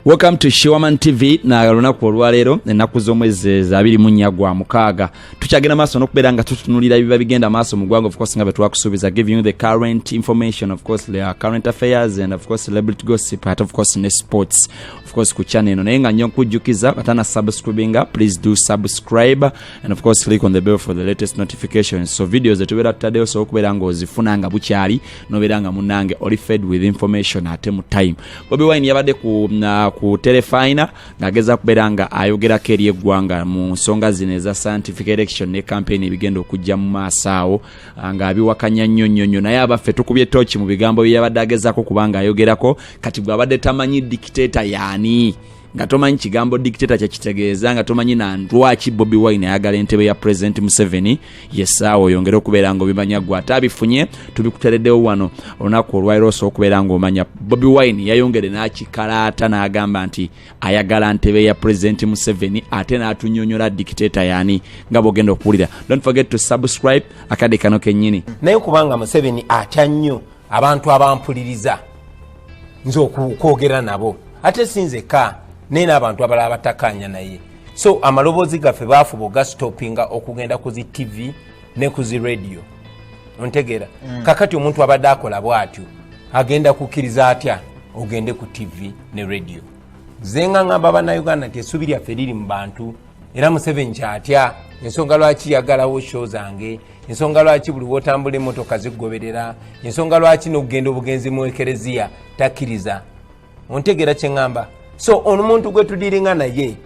welcome to shiwaman tv na lunaku olwaleero ennaku z'omwezi eh, zabiri munya gwa mukaaga tukyagenda maaso n'okubeera nga tutunulira ebiba bigenda maaso mu gwanga ofcourse nga bwe twakusuubiza giving you the current information of course the current affairs and of course celebrity gossip at of course ne sports of course ku channel eno naye nga nnyo nkujjukiza katana subscribinga please do subscribe and of course click on the bell for the latest notifications so videos zetubeera tutaddeyo osobola okubeera nga ozifuna nga bukyali nobeera nga munange oli fed with information ate mu time bobi wine yabadde ku, uh, ku telefina ng'ageza kubeera nga ayogerako eri eggwanga mu nsonga zino eza scientific election ne campaign ebigenda okujja mu maaso awo ah, ng'abiwakanya nnyo nnyo nnyo naye abaffe tukubye tooki mu bigambo bye yabadde agezako kubanga ayogerako kati gwabadde tamanyi dikiteeta yaani nga tomanyi kigambo dictator kyekitegeeza nga tomanyi na lwaki bobi wine ayagala entebe ya president museveni yesaawa oyongere okubeera nga obimanya gwe ate abifunye tubikutereddewo wano olunaku olwairo osobola okubeera nga omanya bobi wine yayongere n'akikalaata n'agamba nti ayagala ntebe ya president museveni ate n'atunyonyola dictator yani nga bwogenda okuwulira don't forget to subscribe akadde kano kennyini naye kubanga museveni atya nnyo abantu abampuliriza nze okwogera nabo ate sinzeka naye n'abantu abalala batakanya naye so amaloboozi gaffe baafuba ogasitopinga okugenda ku zi tv ne ku zi radio ontegeera mm. kakati omuntu abadde akola bwatyo agenda kukkiriza atya ogende ku tv ne radio zenga ngamba banauganda nti esuubi lyaffe liri mu bantu era museveni kyatya ensonga lwaki yagalawo sho zange ensonga lwaki buli wotambula emotoka zigoberera ensonga lwaki nokugenda obugenzi mu ekereziya takkiriza ontegeera kyeŋamba so omuntu gwetudiringa naye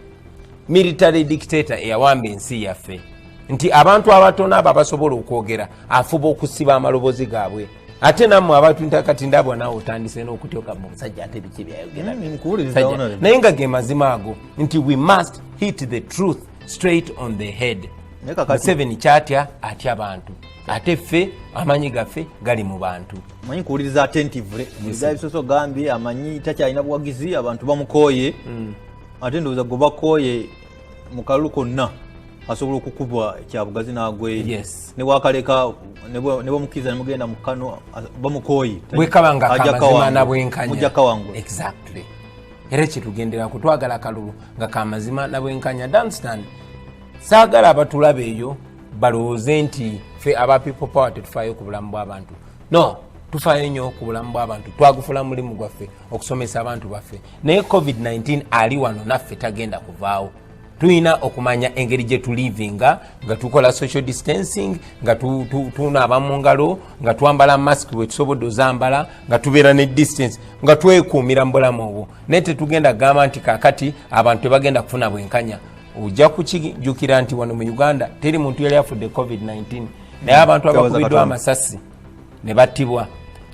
military dictator eyawamba ensi yaffe nti abantu abatono abo abasobola okwogera afuba okusiba amalobozi gaabwe ate namwe abantu ntakati ndabwa nawe otandise nokutyoka musajja ate biki byayogeranaye nga ge mazima ago nti we must hit the truth straight on the head museveni kyatya atya bantu ate ffe amanyi gaffe gali mu bantu manyi kuwuliriza attentively ebisoso gambye amanyi takyalina buwagizi abantu bamukooye hmm. ate ndowooza gwe bakooye mu kalulu konna asobola okukubwa kyabugazi nagweyo yes. newakaleka nebamukiriza nemugenda mukano bamukoyi bwekaba nga kamazima nabwenkanya kawangula exactly era kyetugendera kutwagala kalulu nga kamazima nabwenkanya danstan saagala abatulaba eyo balowooze nti fe aba people power tetufaayo ku bulamu bw'abantu no tufaayo nnyo ku bulamu bw'abantu twagufula mulimu gwaffe okusomesa abantu baffe naye covid-19 ali wano naffe tagenda kuvaawo tulina okumanya engeri gye tulivinga nga tukola social distancing nga tunaaba mu ngalo nga twambala mask bwetusobodde ozambala nga tubeera ne distance nga twekuumira mu bulamu obwo naye tetugenda kugamba nti kakati abantu tebagenda kufuna bwenkanya ojja kukijukira nti wano mu uganda teri muntu yali afudde covid-19 naye abantu abakubiddwa amasasi ne battibwa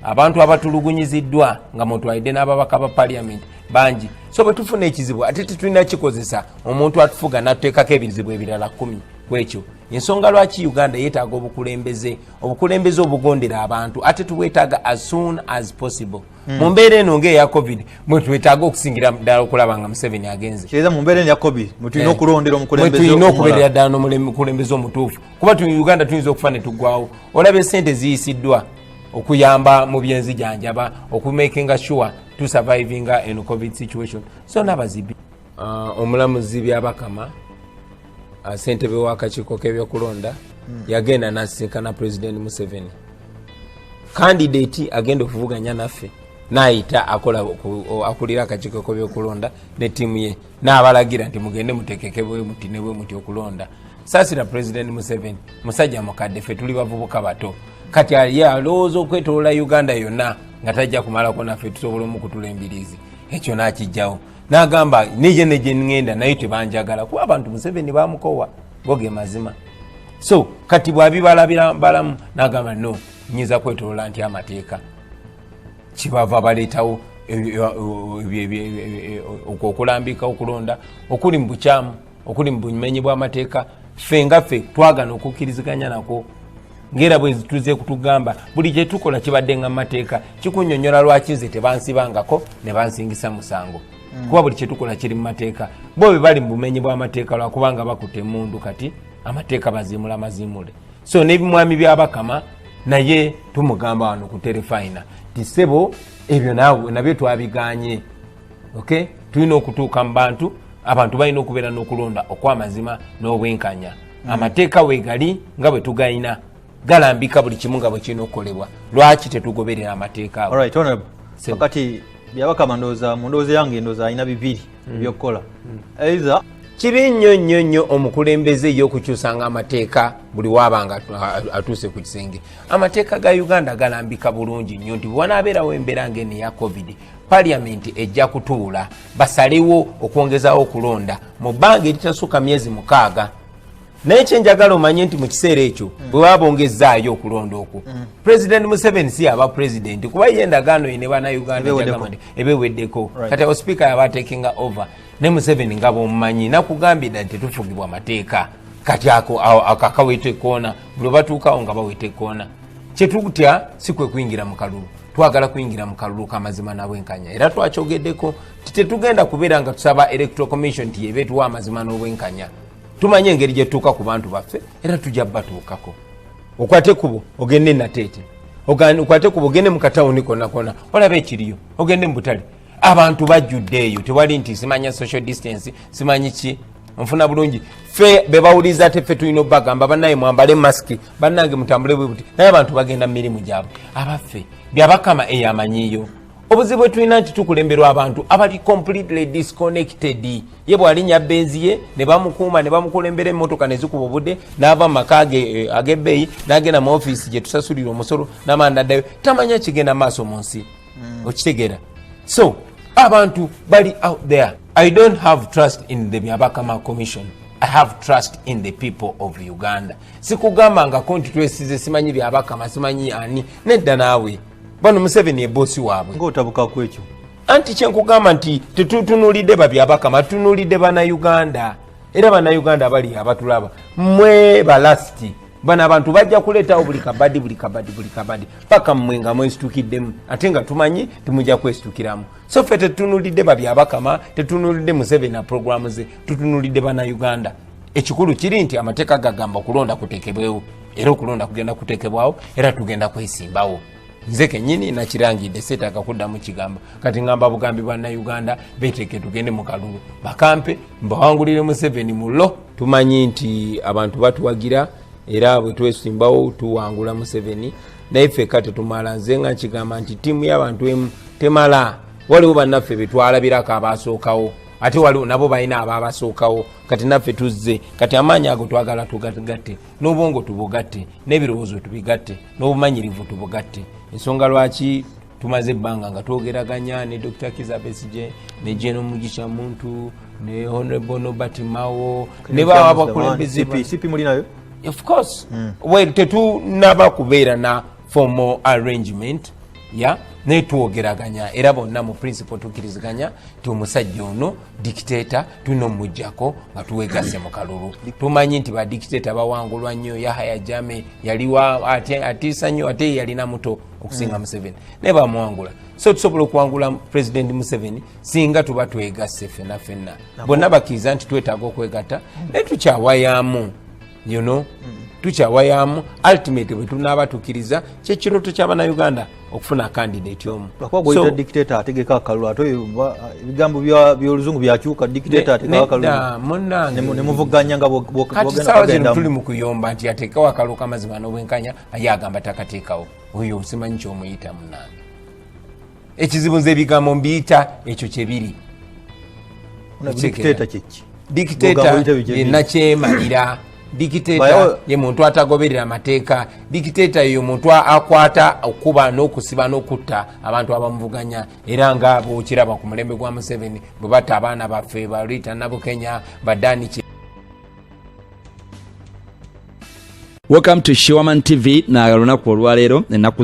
abantu abatulugunyiziddwa nga mutwalidde n'ababaka ba paliament bangi so bwe tufuna ekizibu ate tetulina kikozesa omuntu atufuga natuteekako ebizibu ebirala kumi ku ekyo ensonga lwaki uganda yeetaaga obukulembeze obukulembeze obugondera abantu ate tubwetaaga as soon as possible hmm. mu mbeera eno ngaeya covid mwetwetaaga okusingira ddala okulaba nga museveni agenze mumbeera eno ya covid mwetulina eh. okulondera omukulembeze okubeerera ddala nomukulembeze omutuufu kuba tu uganda tuyinza okufa ne tugwawo olaba esente ziyisiddwa okuyamba mu byenzijanjaba okumakinga sure to survivinga en covid situation so nabazibi uh, omulamuzi byabakama uh, sentebe wakakiiko kebyokulonda hmm. yagenda nasinkana president museveni kandidati agenda okuvuganya naffe nayita akola akulira akakiiko kebyokulonda ne tiimu ye n'abalagira nti mugende mutekeke bwe muti ne bwe muti okulonda saasira pulezidenti museveni musajja mukadde ffe tuli bavubuka bato kati ye alowooza okwetolola uganda yonna nga tajja kumalako naffe tusobola omukutula embiriizi ekyo n'akijjawo n'agamba neye ne gye ŋŋenda naye tebanjagala kuba abantu museveni bamukowa go ge mazima so kati bwabibalabira balamu n'agamba no nyinza kwetolola nti amateeka kibava baleetawo okulambika okulonda okuli mu bukyamu okuli mu bumenyi bw'amateeka ffe nga ffe twagana okukkiriziganya nakwo ngaera bwetuze kutugamba buli kyetukola kibadde nga mumateeka kikunyonyola lwaki nze tebansibangako nebansingisa musango mm. kuba buli kyetukola kiri mumateeka bo bebali mubumenyi bwamateeka lwakubanga bakute mundu kati amateeka bazimula mazimule so nebimwami byabakama naye tumugamba wano ku terefayina tisebo ebyo nawe nabyo twabiganye ok tulina okutuuka mu bantu abantu balina okubeera n'okulonda okwamazima n'obwenkanya mm. amateeka wegali nga bwe tugalina galambika buli kimu nga bwekirina okukolebwa lwaki tetugoberera amateeka awo kati byabakama ndooza mu ndooza yange ndooza alina bibiri ebyokukola either kibi nnyo nnyo nnyo omukulembeze eyokukyusanga amateeka buli wabanga atuuse ku kisenge amateeka ga uganda galambika bulungi nnyo nti bwewanabeerawo embeera ngaeno eya covid paliamenti ejja kutuula basalewo okwongezawo okulonda mu bbanga eritasukka myezi mukaaga naye kyenjagala omanye nti mu kiseera ekyo mm. bwe baba bongezzaayo okulonda okwo mm. president museveni si yaba president kuba ye endagaano ye ne banauganda ebeweddeko kati awo sipiika yaba atekinga over ne museveni nga bwomumanyi nakugambira nti tufugibwa amateeka kati ako akaweta ekoona buli obatuukawo nga baweta ekoona kyetutya si kwe kuyingira mu kalulu twagala kuyingira mu kalulu kamazima nabwenkanya era twakyogeddeko nti tetugenda kubeera nga tusaba electoral commission nti yeba etuwa amazima n'obwenkanya tumanye engeri gyetutuuka ku bantu baffe era tujja batuukako okwate kubo ogende nateete okwate kubo ogende mukatawuni konakona olaba ekiriyo ogende mubutale abantu bajjudde eyo tewali nti simanya social distance simanyi ki nfuna bulungi fe bebawuliza ate fe tulina obagamba banaye mwambale masiki banange mutambule bwebuti naye abantu bagenda mumirimu gyabwe abaffe byabakama eyamanyiyo obuzibu bwetulina nti tukulemberwa abantu abali completely disconnected ye bwalinya benzi ye nebamukuuma nebamukulembera emotoka nezikuba obude nava mumaka eh, agebeeyi nagenda mu ofisi gyetusasulira omusolo namanda ddayo tamanya kigenda maaso mu nsi hmm. okitegera so abantu bali out there i don't have trust in the byabakama commission i have trust in the people of uganda sikugambangako nti twesize simanyi byabakama simanyi ani nedda naawe bano museveni ebosi waabwe ngaotabukaku ekyo anti kyenkugamba nti tetutunulidde babyabakama tutunulidde banauganda era banauganda abali abatulaba mwe balasti bano abantu bajja kuleetawo buli kabadi buli kabadi buli kabadi paka mmwe nga mwesitukiddemu ate nga tumanyi timujja kwesitukiramu so ffe tetutunulidde babyabakama tetunulidde museveni aprogramu ze tutunulidde banauganda ekikulu kiri nti amateeka gagamba okulonda kutekebwewo era okulonda kugenda kutekebwawo era tugenda kwesimbawo nze kenyini nakirangidde seetaaga kuddamu kigambo kati ngamba bugambi bwa nauganda beteeke tugende mu kalulu bakampe mbawangulire museveni mu lo tumanyi nti abantu batuwagira era bwe twesimbawo tuwangula museveni naye feka tetumala nze nga nkigamba nti tiimu y'abantu emu temala waliwo bannaffe betwalabirako abaasookawo ate waliwo nabo balina abaabasookawo kati naffe tuzze kati amaanyi ago twagala tugatugatte n'obwongo tubugatte n'ebirowoozo tubigatte n'obumanyirivu tubugatte ensonga lwaki tumaze ebbanga nga twogeraganya ne dr kizabesije ne jeno mugisha muntu ne honorable nobert mawo ne bawa abakulembeze of course hmm. well tetunaba kubeera na formal arrangement ya naye twogeraganya era bonna mu principle tukiriziganya ti omusajja ono dikiteta tulina omumujjako nga tuwegase mu kalulu tumanyi nti badikiteta bawangulwa nnyo yahaya jame yaliwa atiisa nnyo ate yalina muto okusinga mm. museveni naye bamuwangula so tusobola okuwangula president museveni singa tuba twegasse fenna fenna bonna bakkiriza nti twetaaga okwegatta naye tukyawayamu you know mm. tukyawayamu ultimate bwetunaaba tukiriza kyekiroto kyabanauganda okufuna candidate omu lwakuba dictator ategeka akalulu ate ebigambo byoluzungu byakyuka dictator ategeka akalulu nemuvuganya nga kati sawa zino tuli mukuyomba nti atekawo akalulu kamazima nobwenkanya aye agamba takatekawo oyo simanyi kyomuyita munange ekizibu nze ebigambo mbiyita ekyo kyebiri dikiteta yenakyemalira dikiteta ye muntu atagoberera amateeka dikiteta yeyo muntu akwata okukuba n'okusiba n'okutta abantu abamuvuganya era nga bwokiraba ku mulembe gwa museveni bwe batta abaana baffe ba rita nabukenya badani welcome to shiwaman tv na lunaku olwaleero enaku